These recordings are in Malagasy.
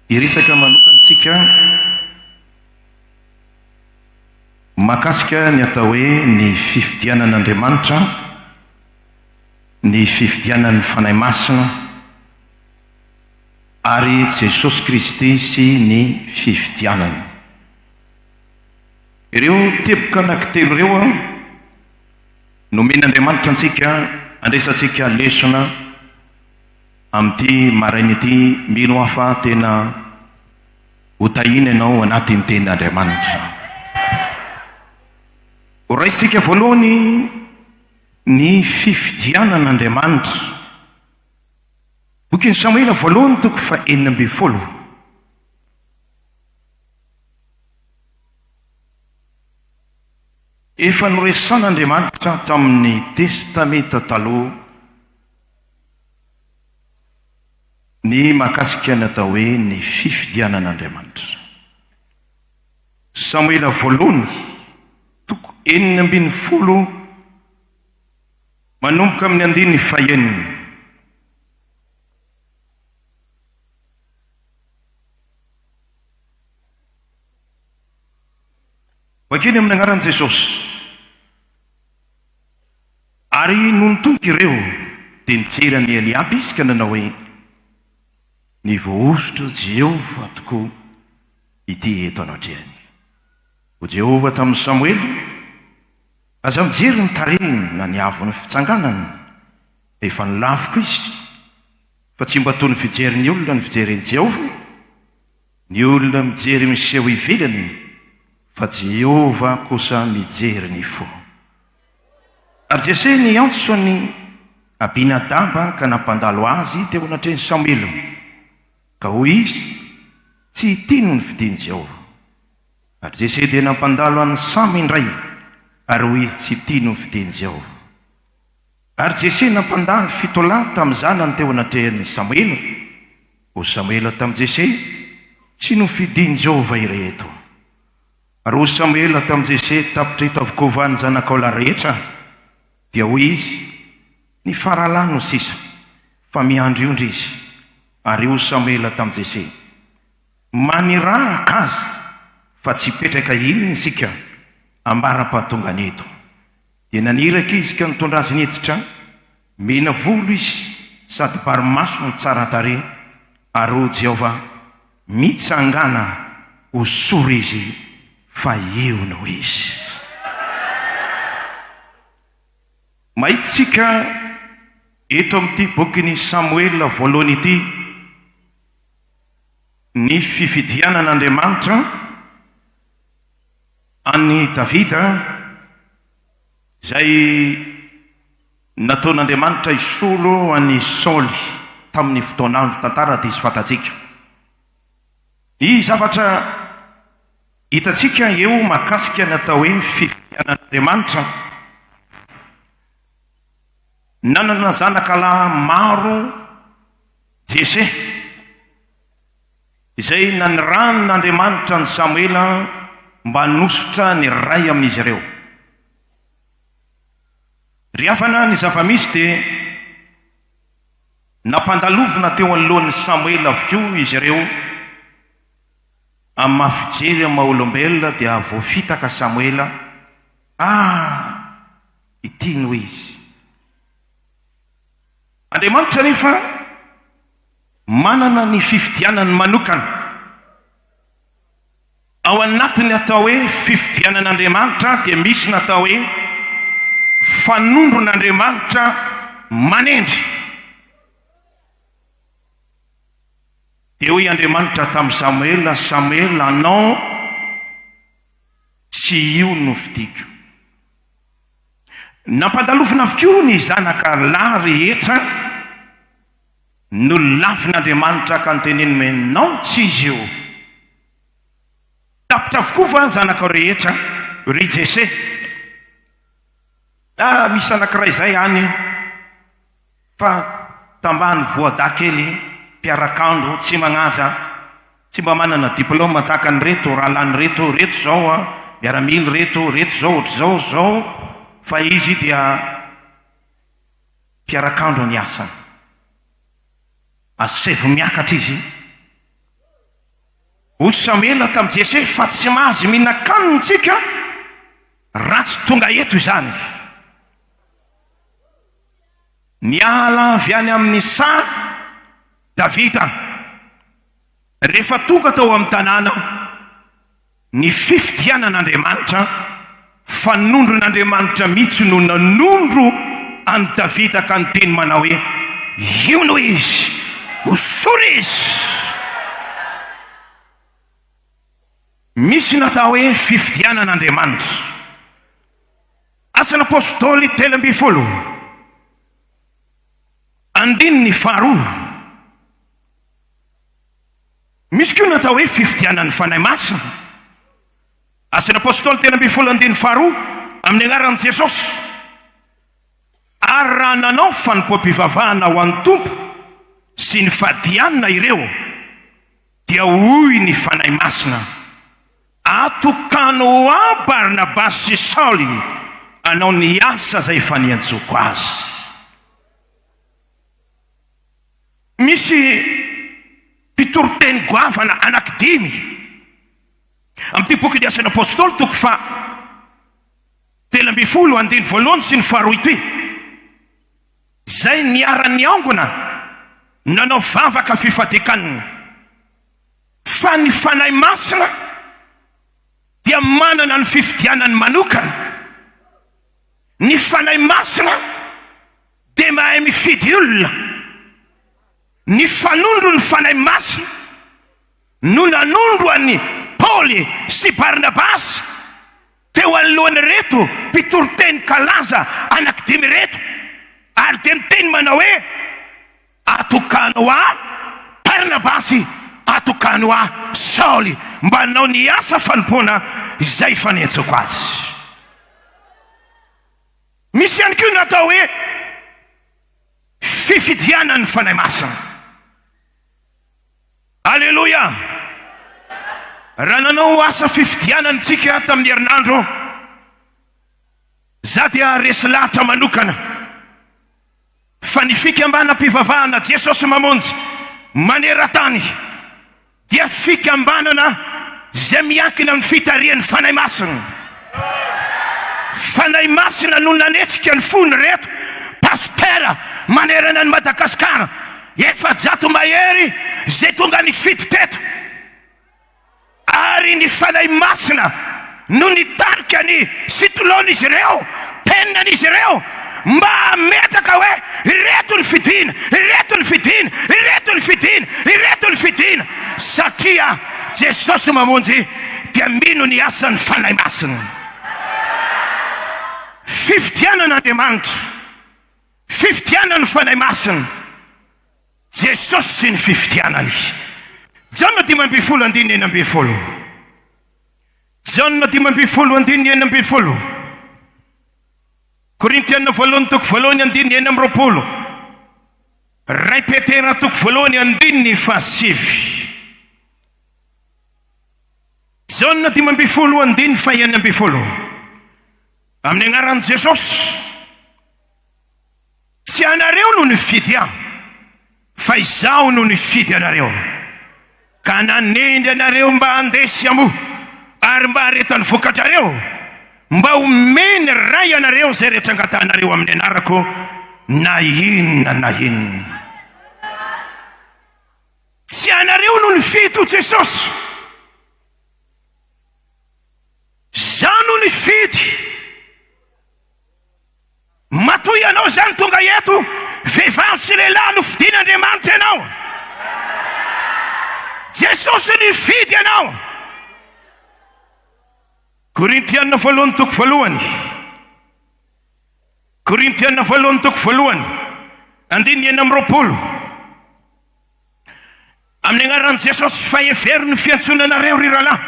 Hiresaka manokana isika mahakasika ny atao hoe ny fifidianan'Andriamanitra, ny fifidianan'ny Fanahy Masina ary Jesosy Kristy sy ny fifidianany. Ireo teboka anankitelo ireo nomen'Andriamanitra antsika handraisantsika lesona. Amin'ity maraina ity, mino aho fa tena ho tahiana ianao anatin'ny Tenin'Andriamanitra. Horaisintsika voalohany ny fifidianana Andriamanitra. Bokin'i Samoela voalohany toko faha enina ambin'ny folo. Efa noresahan'Andriamanitra tamin'ny Testamenta Taloha. Ny mahakasika ny atao hoe ny fifidianan'Andriamanitra. Samoela Voalohany, toko enina ambin'ny folo manomboka amin'ny andininy fahenina. Vakio ny amin'ny anaran'i Jesosy. Ary nony tonga ireo, dia nijery an'i Eliaba izy ka nanao hoe, Ny voahosotra Jehovah tokoa ity eto anatrehany. Hoy Jehovah tamin'i Samoela, Aza mijery ny tarehiny na ny haavon'ny fitsanganany, fa efa nilafiko izy, fa tsy mba toy ny fijerin'ny olona ny fijery an'i Jehovah, ny olona mijery miseho ivelany, fa Jehovah kosa mijery ny fo. Ary Jese niantso an'i Abinadaba ka nampandalo azy teo anatrehin'i Samoela, ka hoy izy, Tsy ity no nifidin'i Jehovah. Ary Jese dia nampandalo an'i Sama indray, ary hoy izy, Tsy ity no nifidin'i Jehovah. Ary Jese nampandalo fito lahy tamin'ny zanany teo anatrehan'i Samoela. Hoy Samoela tamin'i Jese, Tsy nofidin'i Jehovah ireto. Roa Samoela tamin'i Jese tapitra eto avokoa va ny zanakao lahy rehetra? Dia hoy izy, Ny faralahy no sisa, fa miandriondry izy. Ary hoy Samoela tamin'i Jese, Manirahaka azy, fa tsy hipetraka inona isika ambara-pahatongany eto. Dia naniraka izy ka nitondra azy niditra. Mena volo izy sady bary maso no tsara tarehy, ary O Jehovah, mitsangàna ho sora izy, fa eo no izy. Mahitantsika eto amin'ity bokin'i Samoela Voalohany ity ny fifidianan'Andriamanitra an'i Davida, izay. Nataon'Andriamanitra hisolo an'i Saoly tamin'ny fotoan'andro tantara diso fantatsika. Ny zavatra hitantsika eo mahakasika ny atao hoe fitonianan'Andriamanitra, Nanana zanaka lahy maro Jese, izay nanirahan'Andriamanitra an'i Samoela mba hanosotra ny iray amin'izy ireo. Ry havana, ny zava-misy dia nampandalovina teo anoloan'i Samoela avokoa izy ireo. Amin'ny maha fijery amin'ny maha olombelona dia voafitaka Samoela, Ah! ity no izy. Andriamanitra anefa manana ny fifidianany manokana. Ao anatin'ny atao hoe fifidianan'Andriamanitra dia misy ny atao hoe fanondron'Andriamanitra manendry. Dia hoy Andriamanitra tamin'i Samoela, Samoela, anao sy io no fidiko. Nampandalovina avokoa ny zanaka lahy rehetra. Nolavin'Andriamanitra ka noteneniny hoe, Non, tsy izy io. Tapitra avokoa va ny zanakao rehetra? ry Jese. Ah, misy anankiray izay any, fa tambany voadahy kely, mpiarak'andro, tsy magnaja, tsy mba manana diplôme tahaka an'ireto rahalahy ireto, ireto izao miaramila ireto, ireto izao ohatr'izao, izao, fa izy dia. Mpiarak'andro ny asany. Asevo miakatra izy. Hoy Samela tamin'i Jese, Fa tsy mahazy mihinan-kanina isika raha tsy tonga eto izany. Niala avy any amin'ny saha Davida. Rehefa tonga tao amin'ny tanàna, Ny fifidianan'Andriamanitra, fanondron'Andriamanitra mihitsy no nanondro an'i Davida ka niteny manao hoe, Io no izy, hosory izy! Misy ny atao hoe fifidianan'Andriamanitra. Asan'Apôstôly telo ambin'ny folo, andininy faharoa. Misy koa ny atao hoe fifidianan'ny Fanahy Masina. Asan'ny Apôstôly telo ambin'ny folo andininy faharoa, Amin'ny Anaran'i Jesosy, ary raha nanao fanompoam-pivavahana ho an'ny Tompo sy nifadianina ireo, dia hoy ny Fanahy Masina, Atokano ho ahy Barnabasy sy Saoly hanao ny asa izay efa niantsoko azy. Misy mpitoriteny goavana anankidimy amin'ity bokin'ny Asan'ny Apôstôly, toko faha telo ambin'ny folo, andininy voalohany sy ny faharoa ity, izay niara-niangona nanao vavaka fifadian-kanina. Fa ny Fanahy Masina dia manana ny fifidianany manokana. Ny Fanahy Masina. Dia mahay mifidy olona. Ny fanondro ny Fanahy Masina no nanondro an'i Paoly sy Barnabasy teo anoloan'ireto mpitoriteny kalaza anankidimy ireto, ary dia niteny manao hoe, Atokano ahy Barnabasy, atokano ahy Saoly, mba hanao ny asa fanompoana izay efa nenjoko azy. Misy ihany koa ny atao hoe fifidianan'ny Fanahy Masina. Aleloia! Raha nanao asa fifidianana isika tamin'ny herinandro, za dia resy lahatra manokana. Fa ny fikambanam-pivavahana Jesosy Mamonjy maneran-tany dia fikambanana izay miankina amin'ny fitarihan'ny Fanahy Masina. Fanahy Masina no nanetsika ny fon'ireto Pasitera manerana an'i Madagasikara efajato mahery izay tonga nifidy teto. Ary ny Fanahy Masina no nitarika ny sitilon'izy ireo, teninan'izy ireo, mba hametraka hoe, Ireto ny fidina, ireto ny fidina, ireto ny fidina, ireto ny fidina. Satria Jesosy Mamonjy dia mino ny asan'ny Fanahy Masina. Fifidianan'Andriamanitra, fifidianan'ny Fanahy Masina. Jesosy sy ny fifidianany. Jaona dimy ambin'ny folo andininy enina ambin'ny folo Jaona dimy ambin'ny folo andininy enina ambin'ny folo Korintiana voalohany toko voalohany andininy enina amby roapolo Ray Petera toko voalohany andininy fahasivy Jaona dimy ambin'ny folo andininy fahenina ambin'ny folo Amin'ny anaran'i Jesosy Tsy ianareo no nifidy ahy, fa Izaho no nifidy anareo, ka nanendry anareo mba handeha sy hamoa, ary mba hareto ny vokadrareo, mba homen'ny Ray anareo izay rehetra angatahanareo amin'ny Anarako, na inona na inona. Tsy ianareo no nifidy ho Jesosy. Izaho no nifidy. Matoa ianao izany tonga eto, vehivavy sy lehilahy nofidin' Andriamanitra ianao. Jesosy nifidy ianao. Korintiana voalohany toko voalohany Korintiana voalohany toko voalohany andininy enina amby roapolo. Amin'ny Agnaran'i Jesosy, fa hevero ny fiantsoana anareo, ry rahalahy,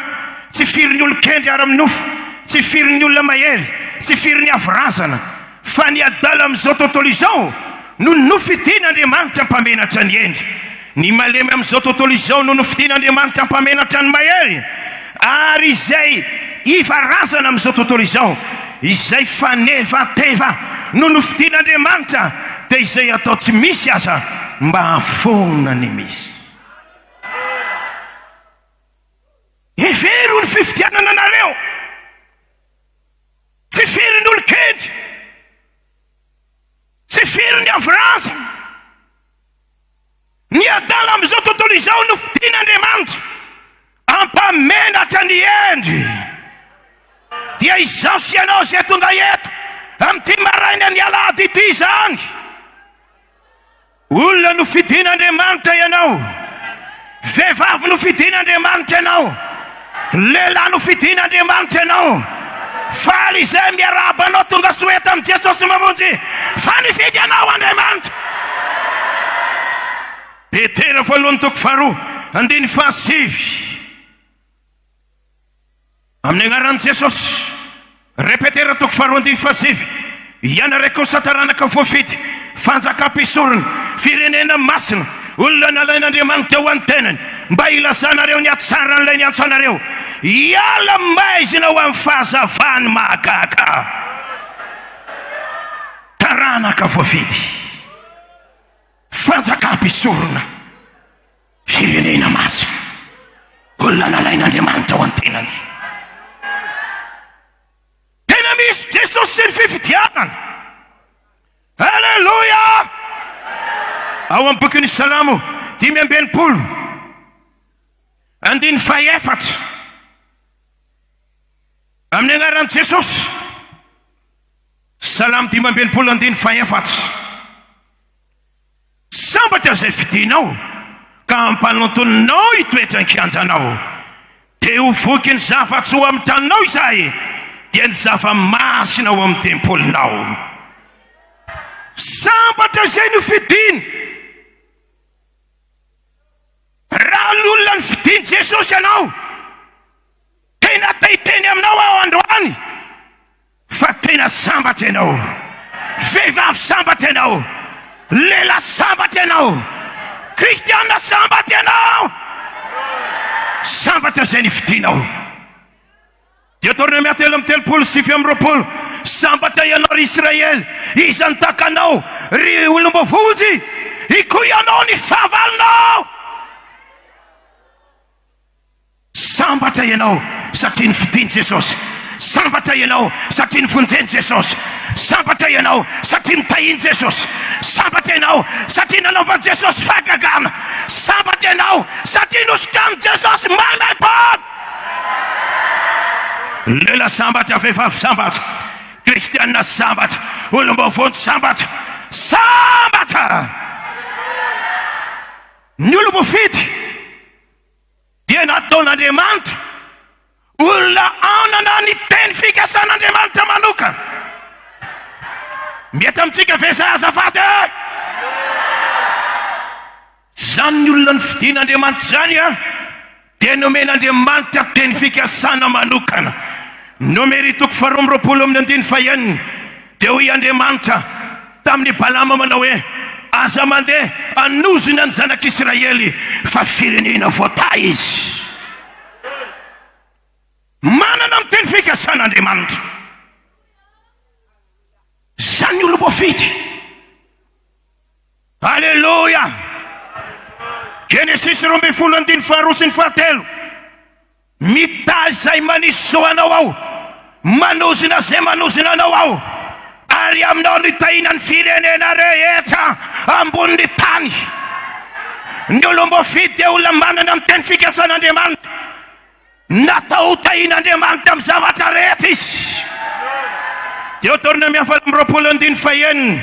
tsy firy ny olon-kendry ara-my nofo, tsy firy ny olona mahery, tsy firy ny avo razana, fa ny adala amin'izao tontolo izao no nofidin' Andriamanitra mpamenatra ny hendry. Ny malemy amin'izao tontolo izao no nofidin' Andriamanitra mpamenatra ny mahery. Ary izay iva razana amin'izao tontolo izao, izay fanevateva no nofidin'Andriamanitra, dia izay atao tsy misy aza mba hahafoana ny misy. Hevero ny fifidianana anareo, tsy firy ny olon-kendry, tsy firy ny avo razana, Ny adala amin'izao tontolo izao no fidin'Andriamanitra hampamenatra ny hendry. Dia izaho sy ianao izay tonga eto amin'ity marainan'ny alahady ity izany. Olona no fidin'Andriamanitra ianao. Vehivavy no fidin'Andriamanitra ianao. Lehilahy nofidin' Andriamanitra ianao, faly izay miarahaba anao, tonga soa eto amin'i Jesosy Mamonjy, fa nifidy anao Andriamanitra. Petera voalohany toko faharoa andininy fahasivy Amin'ny agnaran'i Jesosy. Repetera toko faharoa andininy fahasivy Ianareo kosa taranaka voafidy, fanjakam-pisorona, firenena masina, olona nalain'Andriamanitra ho an'ny tenany, mba hilazanareo ny hatsaran'ilay niantso anareo hiala maizina ho amin'ny fahazavany mahagaga. Taranaka voafidy, fanjakam-pisorona. Firenena masina, olona nalain'Andriamanitra ho an-tenany. Tena misy Jesosy sy ny fifidianana. Aleloia! Ao amin'ny bokin'ny Salamo dimy amby enimpolo, andininy fahaefatra, amin'ny anaran'i Jesosy. Salamo dimy amby enimpolo andininy fahaefatra. Tsy sambatra izay fidinao ka ampanontoninao hitoetra an-kianjanao. Dia ho voky ny zava-tsy ho amin'ny tranonao izay, dia ny zava-masina ho amin'ny tempolinao. Sambatra izay nofidiny. Raha lolona ny fidin'i Jesosy ianao, tena tay teny aminao aho androany, Fa tena sambatra ianao. Vehivavy sambatra ianao. Lehilahy sambatra ianao. Kristiana sambatra ianao. Sambatra izay nifidianao. Deoteronomia telo amby telopolo sy sivy amby roapolo, Sambatra ianao, ry Israely, iza no tahaka anao, ry olom-boavonjy? Ikoy ianao ny fahavalonao! Sambatra ianao satria nofidin'i Jesosy. Sambatra ianao satria nivonjen'i Jesosy. Sambatra ianao satria notahian'i Jesosy. Sambatra ianao satria nanaovan'i Jesosy fahagagana. Sambatra ianao satria nosokanin'i Jesosy maimaim-poana. Lehilahy sambatra, vehivavy sambatra, kristiana sambatra, olom-baovao ny sambatra. Sambatra ny olom-boafidy. Dia nataon'Andriamanitra olona hanana ny teny fikasan'Andriamanitra manokana. Mety amintsika ve izay azafady e? Izany ny olona nofidin'Andriamanitra izany an, dia nomen'Andriamanitra teny fikasana manokana. Nomery toko faharoa amby roapolo amin'ny andiny fahenina, dia hoy Andriamanitra, Tamin'i Balama manao hoe, Aza mandeha hanozona ny zanak'Israely, fa firenena voatahy izy. Manana ny teny fikasana Andriamanitra. Izany ny olom-boafidy. Aleloia! Genesisy roa ambin'ny folo andininy faharoa sy ny fahatelo. Mitahy izay manisy zo anao aho, manozona izay manozona anao aho, ary aminao no hitahiana ny firenena rehetra ambonin'ny tany. Ny olom-boafidy dia olona manana ny teny fikasan'Andriamanitra. Natao hotahian'Andriamanitra amin'ny zavatra rehetra izy. Deoteronomia faharoapolo andininy fahenina.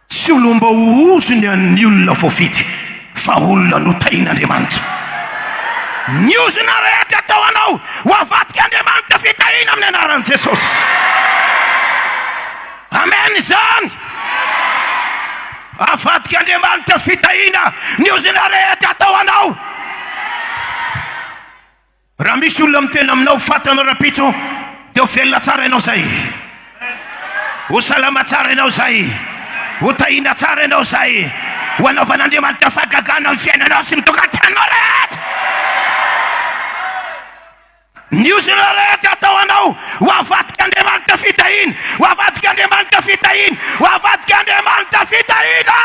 Tsy olom-baohozo ny an'ny olona voafidy, fa olona notahian'Andriamanitra. Ny ozona rehetra atao anao ho avadik'Andriamanitra fitahiana amin'ny anaran'i Jesosy. Amen izany. Avadik'Andriamanitra fitahiana ny ozona rehetra atao anao. Raha misy olona miteny aminao ho faty anao rahampitso dia ho velona tsara ianao izay. Ho salama tsara ianao izay. Ho tahiana tsara ianao izay. Ho anaovan'Andriamanitra fahagagana ny fiainanao sy ny tokantranonao rehetra. Ny ozona rehetra atao anao ho avadik'Andriamanitra fitahiana, ho avadik'Andriamanitra fitahiana, ho avadik'Andriamanitra fitahiana.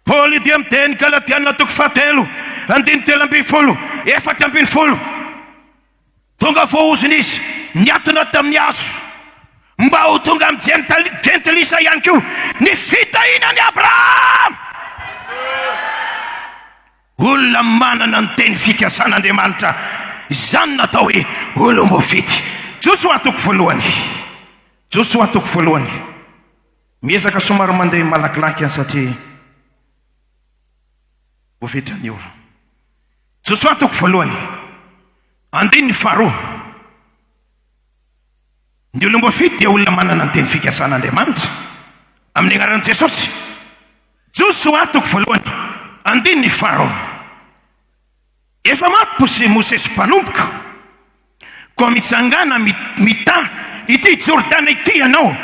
Paoly dia amin'ny teny galatiana toko fahatelo andininy telo ambin'ny folo efatra ambin'ny folo, Tonga voahozona izy niatona tamin'ny hazo, mba ho tonga amin'ny jentilisa ihany koa ny fitahiana an'i Abrahama. Olona manana ny teny fikasan'Andriamanitra izany natao hoe olom-boafidy. Josoa toko voalohany. Josoa toko voalohany. Miezaka somary mandeha malakilaky aho satria voafetra ny ora. Josoa toko voalohany, andininy faharoa. Ny olom-boa fito dia olona manana ny teny fikasan' Andriamanitra amin' ny anaran' i Jesosy. Josoa toko voalohany, andininy faharoa. Efa maty bosy Mosesy mpanomboka koa mitsangàna mità ity Jordana ity ianao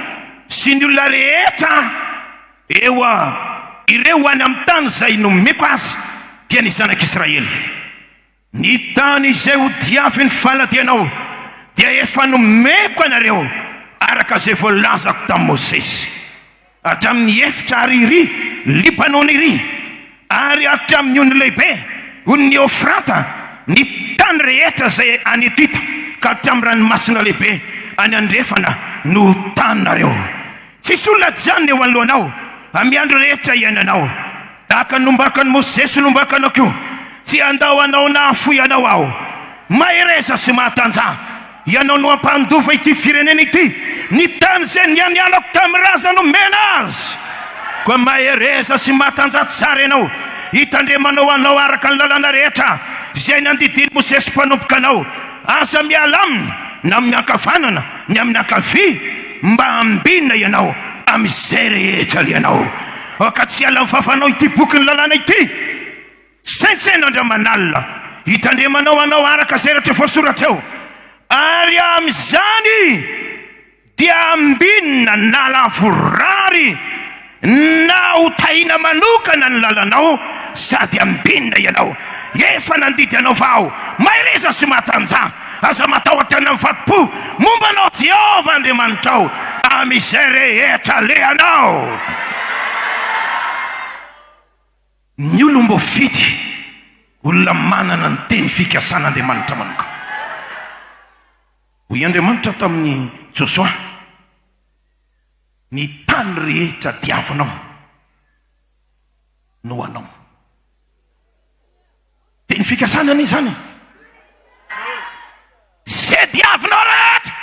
sy ny olona rehetra eo a! ireo any amin'ny tany izay nomeko azy dia ny zanak'Israely. Ny tany izay hodiavin'ny faladianao dia efa nomeko anareo araka izay voalazako tamin'i Mosesy. Hatramin' ny efitra ary iry Libanona iry, ary hatramin' ny ony lehibe, ony ny Eofrata, ny tany rehetra izay any Etita, ka hatramin' ny ranomasina lehibe any andrefana no ho taninareo. Tsisy olona hajanona eo anoloanao amy ny andro rehetra iainanao, tahaka ny nombakan' i Mosesy nombakanao koa, tsy handao anao na hahafoy anao Aho. Mahereza sy mahatanjaha. Ianao no ampandova ity firenena ity, ny tany izay nianianako tamin'ny ràza nomena azy. Koa mahereza sy matanjaha tsara ianao, hitandremanao anao araka ny lalàna rehetra izay nandidian'i Mosesy mpanompoka anao. Aza miala aminy, na amin'ny ankavanana, ny amin'ny ankavia, mba hambinina ianao amin'izay rehetra alehanao. Aoka tsy hiala amin'ny fafanao ity bokin'ny lalàna ity. Saintsaino Andramanalina hitandremanao anao araka izay rehetra voasoratra eo, ary amin'izany dia ambinina na lavorary na hotahina manokana ny lalanao sady ambinina ianao. Efa nandidy anao fa ao, mahereza sy matanjaha, aza matahotra na mifato-po, momba anao Jehovah Andriamanitrao amin'izay rehetra alehanao. Ny olom-boafidy, olona manana ny teny fikasan'Andriamanitra manokana. Hoy Andriamanitra tamin'i Josoa, Ny tany rehetra diavinao no anao. Teny fikasana anie izany. Izay diavinao rehetra.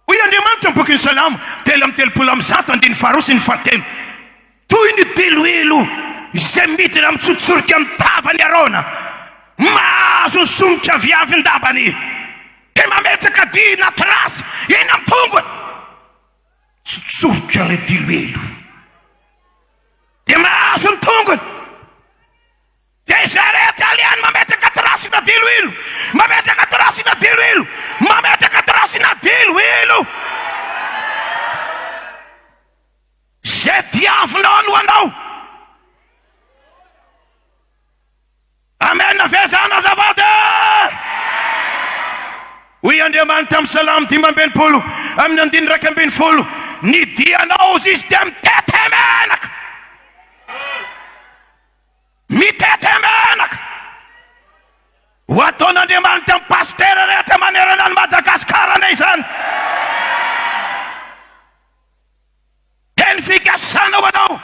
Hoy Andriamanitra amin'ny bokin'ny Salamo telo amby telopolo amby zato andininy faharoa sy ny fahatelo, Toy ny diloilo izay midina mitsotsorika amin'ny tavan'i Arona, mahazo ny somotra viavin-dambany, dia mametraka dihy na trace eny amin'ny tongony. Mitsotsorika ilay diloilo, dia mahazo ny tongony. Dia Zare Italian mametraka tracina diloilo mametraka tracina diloilo mametraka tracina diloilo Ze diavinao no anao Amen ve zany azafady eh? Hoy Andriamanitra amin'ny Salamo dimy amby enimpolo amin'ny andininy iraika ambin'ny folo Ny dianao zisy dia mitete menaka Mitete menaka ho ataon'Andriamanitra ny Pasitera rehetra manerana an'i Madagascar anie izany. Teny fikasana ho anao,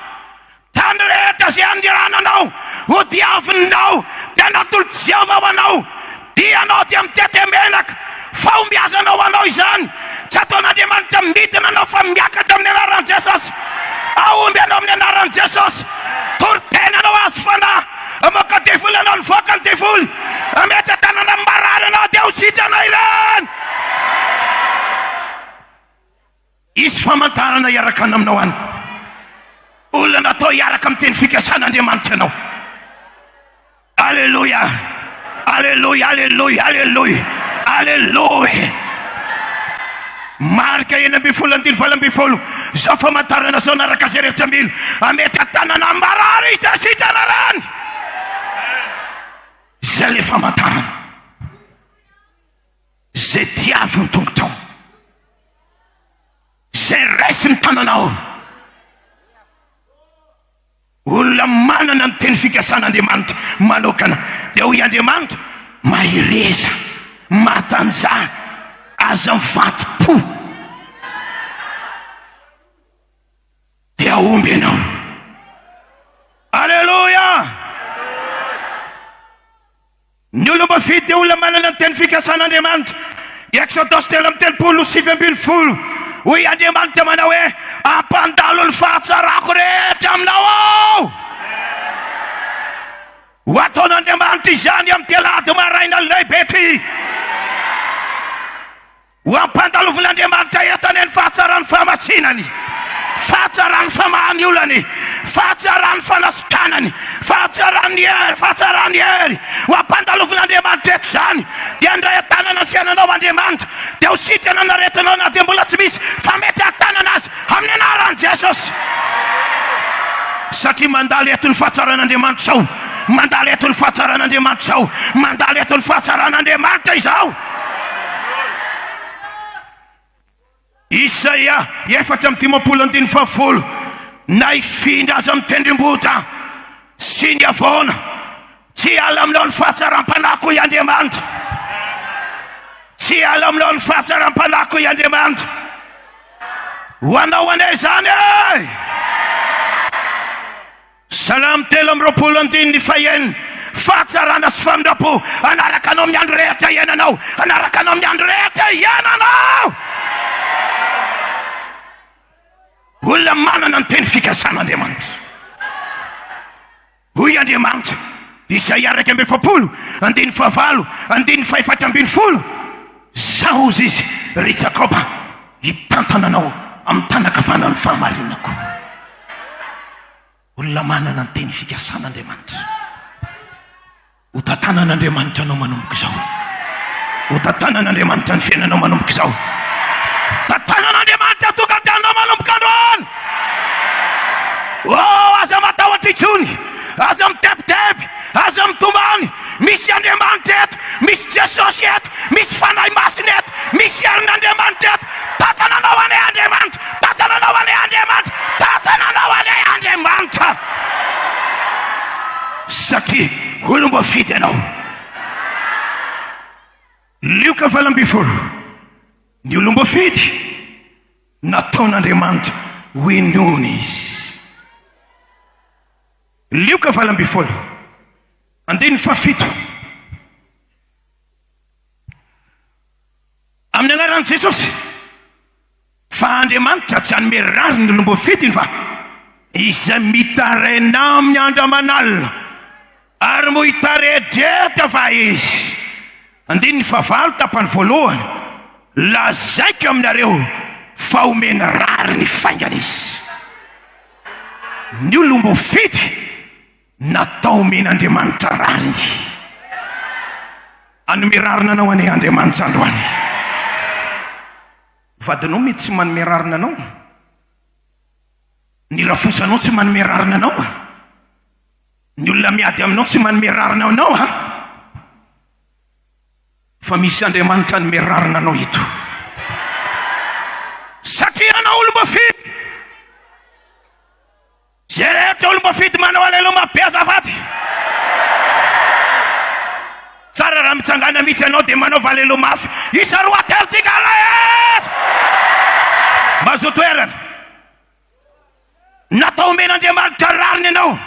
tany rehetra izay anirananao ho diavinao dia natolotry Jehovah ho anao. Dia ianao dia mitete menaka, fahombiazana ho anao izany, tsy ataon'Andriamanitra midina anao fa miakatra amin'ny anaran'i Jesosy, hahomby ianao amin'ny anaran'i Jesosy, tory tena anao azo fanahy, hamoaka devoly ianao nivoaka ny devoly, hametra tanana amin'ny marary ianao dia ho sitrana ireny. Hisy famantarana hiarakana aminao any. Olona natao hiaraka amin'ny teny fikasana Andriamanitra ianao. Aleloia! Aleloia! Aleloia! Aleloia! Aleloia! Marika enina ambin'ny folo andiny valo ambin'ny folo, izao famantarana izao anaraka izay rehetra mila hamety an-tanana amin'ny marary hita sy hita rarany. Izay ilay famantarana. Izay tia azy ho tongotrao. Izay raiso ny tananao. Olona manana ny teny fikasan'Andriamanitra manokana. Dia hoy Andriamanitra, mahereza, matanjaha, aza mivadim-po. Dia hahomby ianao. Aleloia! Ny olom-boafidy dia olona manana ny teny fikasan'Andriamanitra. I Eksodos telo amby telopolo, sivy ambin'ny folo, Hoy Andriamanitra manao hoe, Hampandalo ny fahatsarako rehetra aminao aho. Ho ataon'Andriamanitra izany amin'ny telady maraina lehibe ity. Ho ampandalovin'Andriamanitra eto anie ny fahatsaran'ny fahamasinany, fahatsaran'ny famahany olany, fahatsaran'ny fanasitanany, fahatsaran'ny hery, fahatsaran'ny hery. Ho ampandalovin'Andriamanitra eto izany. Dia handray an-tanana ny fiainanao Andriamanitra. Dia ho sitrana ny aretinao na dia mbola tsy misy fametrahan-tanana aza amin'ny anaran'i Jesosy. Satria mandalo eto ny fahatsaran'Andriamanitra izao, mandalo eto ny fahatsaran'Andriamanitra izao, mandalo eto ny fahatsaran'Andriamanitra izao. Isaia efatra amby dimampolo andininy fahafolo Na hifindra aza amin'ny tendrombohitra sy ny havoana Tsy hiala aminao ny fahatsaram-panahiko i Andriamanitra Tsy hiala aminao ny fahatsaram-panahiko i Andriamanitra Ho anao anie izany e Salamo telo amby roapolo andininy fahenina Fahatsarana sy famindram-po hanaraka anao amin'ny andro rehetra iainanao Hanaraka anao amin'ny andro rehetra iainanao Olona manana ny teny fikasan'Andriamanitra Hoy Andriamanitra, Isaia iraika amby efapolo andininy fahavalo andininy fahefatra ambin'ny folo Izaho hozy izy, ry Jakoba, hitantana anao amin'ny tànan-kavanan'ny fahamarinako. Olona manana ny teny fikasana Andriamanitra. Hotantanan' Andriamanitra anao manomboka izao. Hotantanan' Andriamanitra ny fiainanao manomboka izao. Tantanan' Andriamanitra tokantanonao manomboka androany. Oh, aza matahotra intsony. Aza mitebiteby. Aza mitomany. Misy Andriamanitra eto. Misy Jesosy eto. Misy Fanahy Masina eto. Misy herin'Andriamanitra eto. Tantana anao anie Andriamanitra. Tantana anao anie Andriamanitra. Tantana anao anie Andriamanitra. Satria olom-boafidy ianao. Lioka valo ambin'ny folo, Ny olom-boafidy, nataon'Andriamanitra ho inoana izy. Lioka valo ambin'ny folo, andininy fahafito, Amin'ny anaran'i Jesosy, fa Andriamanitra tsy hanome rariny ny olom-boafidiny fa izay mitaraina aminy andro aman'alina, ary moa hitare-drehetra va Izy? Andininy fahavalo tapany voalohany, Lazaiko aminareo fa homeny rariny faingana Izy. Ny olom-boafidy Natao omen'Andriamanitra rariny. Hanome rariny anao anie Andriamanitra androany. Vadinao mety tsy manome rariny anao. Ny rafosanao tsy manome rariny anao. Ny olona miady aminao tsy manome rariny anao. Fa misy Andriamanitra hanome rariny anao eto. Satria anao olom-bafidy. Jereko olom-boafidy manao aleloma be azafady. Tsara raha mitsangana mitsy ianao dia manaova aleloma mafy. Isa roa telo tika alay eto. Mazoa toerana. Natao omen'Andriamanitra rariny ianao.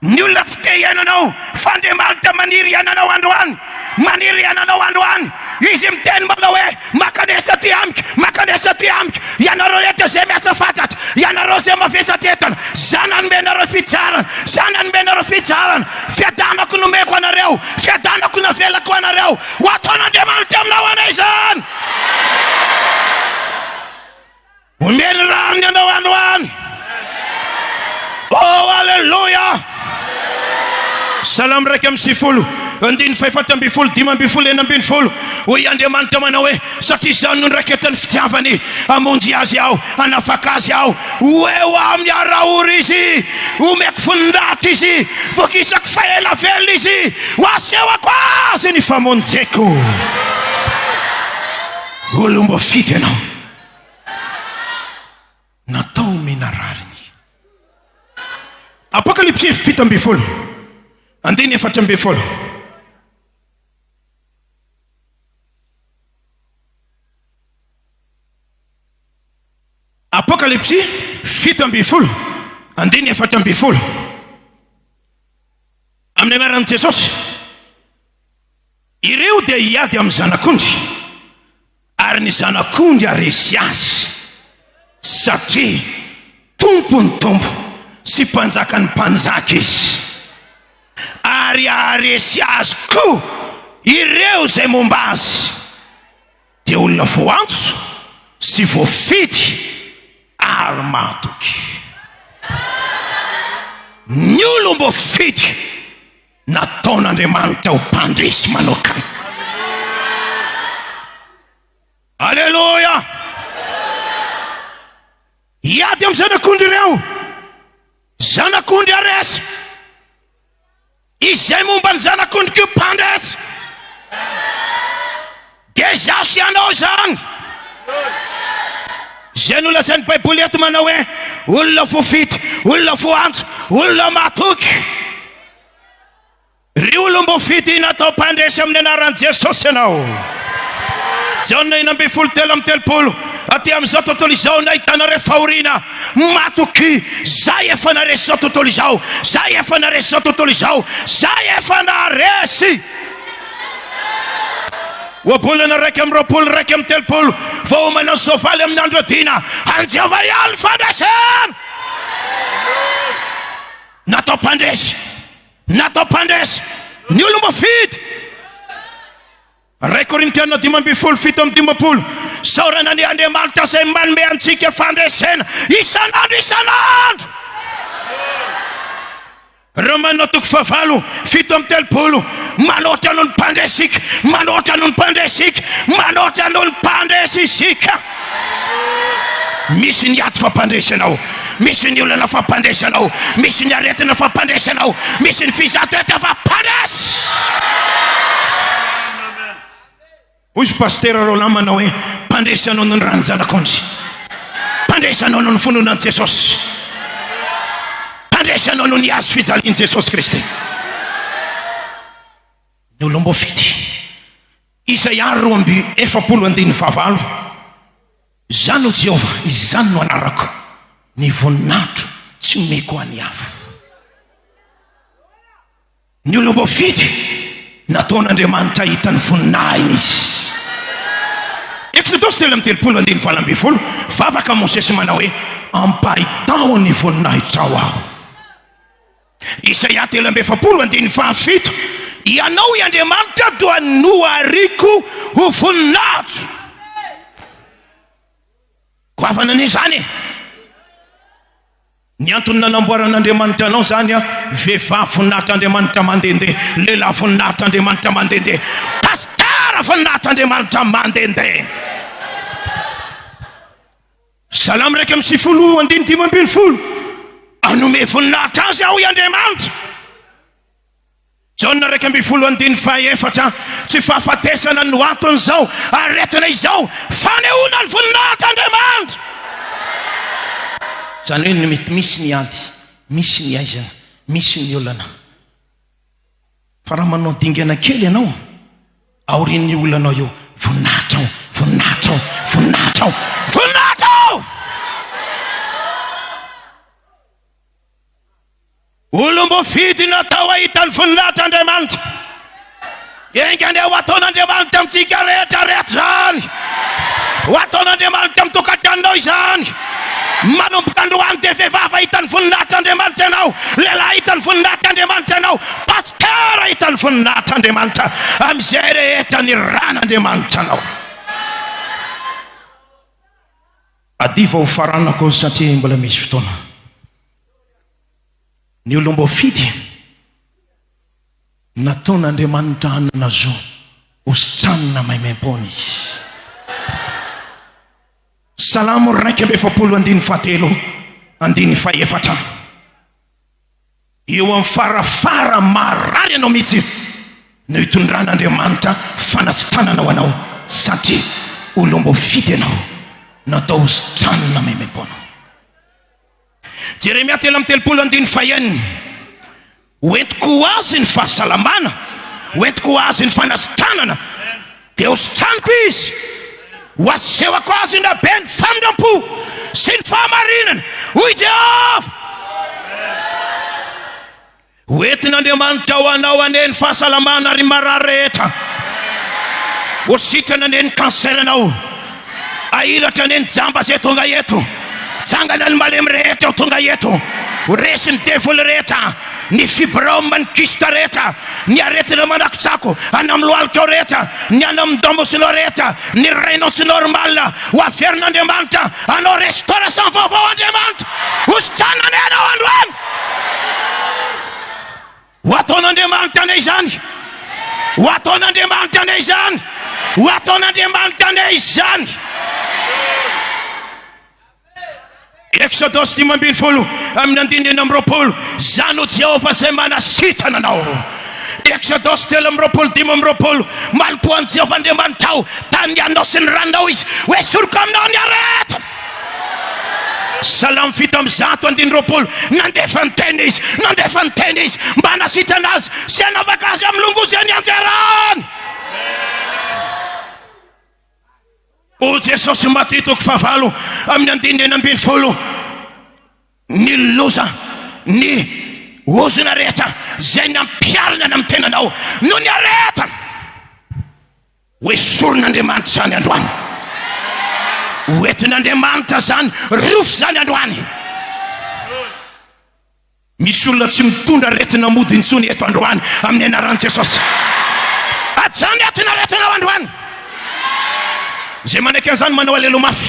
Ny olona tsy te hihaino anao fa Andriamanitra maniry hihainanao androany, maniry hihainanao androany. Izy miteny manao hoe, Mankanesa aty amiko, mankanesa aty amiko, ianareo rehetra izay miasa fatratra, ianareo izay mavesatra entana, Izaho nanome anareo fitsaharana, Izaho nanome anareo fitsaharana, fiadanako nomeko anareo, fiadanako navelako anareo. Ho ataon'Andriamanitra aminao anay izany. Omeny rariny anao any ho any. Oh, aleloia! Salamo iraika amby sivifolo, andininy fahefatra ambin'ny folo, dimy ambin'ny folo, enina ambin'ny folo. Hoy Andriamanitra manao hoe, Satria izany no niraiketan'ny fitiavany, hamonjy azy aho, hanafaka azy aho. Ho eo aminy ara-ora izy, homeko voninahitra izy, vokisako fa ela velona izy, ho asehoko azy ny famonjeko. Olom-boafidy ianao. natao omena rariny. Apokalipsy fito ambin'ny folo andiny efatra ambin'ny folo. Apokalipsy fito ambin'ny folo andiny efatra ambin'ny folo. Amin'ny anaran'i Jesosy. Ireo dia hiady amin'ny zanak'ondry, ary ny zanak'ondry haharesy azy, satria Tompon'ny tompo sy Mpanjakan'ny mpanjaka izy, ary haharesy azy koa ireo izay momba azy, dia olona voantso sy voafidy ary mahatoky. Ny olom-boafidy. Nataon'Andriamanitra ho mpandresy manokana. Aleloia! Hiady amin'ny zanak'ondry ireo, zanak'ondry aresy, izay momba ny zanak'ondry koa mpandresy. Dia zaso ianao izany! Izay nolazain'ny Baiboly eto manao hoe olona voafidy, olona voantso, olona matoky. Ry olom-boafidy natao mpandresy amin'ny anaran'i Jesosy ianao. Jaona enina ambin'ny folo telo amin'ny telopolo, aty amin'izao tontolo izao nahitanareo fahoriana, matoky, zay efa naresy izao tontolo izao, zay efa naresy izao tontolo izao, zay efa naresy. Ohabolana iraika amby roapolo iraika amby telopolo vao omenao soavaly amin'ny andro adina an'i Jehovah ihany ny fandresena. Natao mpandresy, natao mpandresy ny olom-boafidy. Ray Korintiana dimy ambin'ny folo fito amby dimampolo, Isaorana an' Andriamanitra izay manome antsika fandresena isan'andro isan'andro. Romana toko fahavalo, fito amby telopolo, Manoatra noho ny mpandresy isika, manoatra noho ny mpandresy isika, manoatra noho ny mpandresy isika. Misy ny ady fampandresy anao, misy ny olana fampandresy anao, misy ny aretina fampandresy anao, misy ny fizatoeta fampandresy. Hoy i Pasitera Roland manao hoe, Mpandresy anao noho ny ran'ny Zanak'ondry. Mpandresy anao noho ny finoana an'i Jesosy. Mpandresy anao noho ny hazo fijalian'i Jesosy Kristy. Ny olom-boafidy. Izaia roa amby efapolo andininy fahavalo, Izaho no Jehovah, izany no anarako, ny voninahitro tsy omeko ho an'ny hafa. Ny olom-boafidy, nataon'Andriamanitra hahita ny voninahiny izy. Eksodosy telo amby telopolo andininy valo ambin'ny folo, Vavaka Mosesy manao hoe, Ampahitao ny voninahitrao aho. Isaia telo amby efapolo andininy fahafito, Ianao i Andriamanitra doa nohariko ho voninahitro. Goavana anie izany e! Ny antony nanamboaran'Andriamanitra anao izany an, vehivavy voninahitr'Andriamanitra mandehandeha, lehilahy voninahitr'Andriamanitra mandehandeha, pasitera voninahitr'Andriamanitra mandehandeha. Salamo iraika amby sivifolo andininy dimy ambin'ny folo, Hanome voninahitra Azy aho i Andriamanitra. Jaona iraika ambin'ny folo andininy faha efatra, Tsy fahafatesana no anton'izao aretina izao, fanehoana ny voninahitr'Andriamanitra. Izany hoe ny mety misy ny ady, misy ny aizana, misy ny olana. Fa raha manao dingana kely ianao aorian'io olanao io, voninahitra ao, voninahitra ao, voninahitra ao, voninahitra ao! Olom-boafidy natao hahita ny voninahitr'Andriamanitra. Enga anie ho ataon'Andriamanitra amintsika rehetra rehetra izany. Ho ataon'Andriamanitra amin'ny tokantranonao izany. Manomboka androany dia vehivavy hahita ny voninahitr'Andriamanitra ianao, lehilahy hahita ny voninahitr'Andriamanitra ianao, pasteur hahita ny voninahitr'Andriamanitra amin'izay rehetra niran'Andriamanitra anao. Adio vao ho faranako satria mbola misy fotoana. Ny olom-boafidy nataon'Andriamanitra hanana zo hositranina maimaim-poana izy. Salamo iraika amby efapolo andininy fahatelo andininy fahefatra. Eo amin'ny farafara marary anao mihitsy no itondran'Andriamanitra fanasitranana ho anao satria olom-boafidy ianao natao hositranina maimaim-poana. Jeremia telo amby telopolo andininy fahenina Ho entiko ho azy ny fahasalamana, ho entiko ho azy ny fanasitranana, dia hositraniko izy, ho asehoko azy ny raben'ny famindram-po sy ny fahamarinana, hoy Jehovah. Ho entin'Andriamanitra ho anao anie ny fahasalamana ary ny marary rehetra. Ho sitrana anie ny cancer anao. Ahiratra anie ny jamba izay tonga eto. Tsangana ny malemy rehetra ho tonga eto. Ho resy ny devoly rehetra, ny fibrome, ny kyste rehetra, ny aretina manakotsako, any amin'ny lohalikao rehetra, ny any amin'ny domosinao rehetra, ny rainao tsy normal. Ho averin'Andriamanitra anao restauration vaovao Andriamanitra. Ho sitrana anie ianao androany. Ho ataon'Andriamanitra anay izany! Ho ataon'Andriamanitra anay izany! Ho ataon'Andriamanitra anay izany! Exodus dimy ambin'ny folo amin'ny andininy enina amby roapolo Za no Jehovah izay manasitrana anao Exodus telo amby roapolo dimy amby roapolo Malokoa an'i Jehovah Andriamanitrao Tany ny anao sy ny ranonao izy Ho esoriko aminao ny aretina Salamo fito amby zato andininy roapolo, Nandefa ny teniny Izy, nandefa ny teniny Izy, mba hanasitrana azy sy hanavaka azy amin'ny longozy any anjarany. O Jesosy, Matio toko fahavalo amin'ny andininy enina ambin'ny folo, Ny loza, ny ozona rehetra izay nampiharina ny amin'ny tenanao no niaretana. Hoesorina Andriamanitra izany androany. Hoentin'Andriamanitra izany rofy izany androany. Misy olona tsy mitondra aretina mody intsony eto androany amin'ny anaran'i Jesosy. Ajany ato ny aretinao androany. Izay manaiky an'izany manao alelo mafy.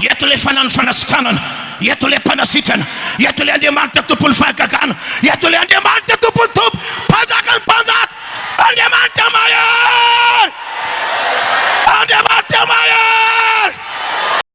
Eto ilay fanano fanasitranana. Ireto ilay Mpanasitrana, ireto ilay Andriamanitra Tompon'ny fahagagana, ireto ilay Andriamanitra Tompon'ny tompo, Mpanjakan'ny mpanjaka, Andriamanitra mahery! Andriamanitra mahery!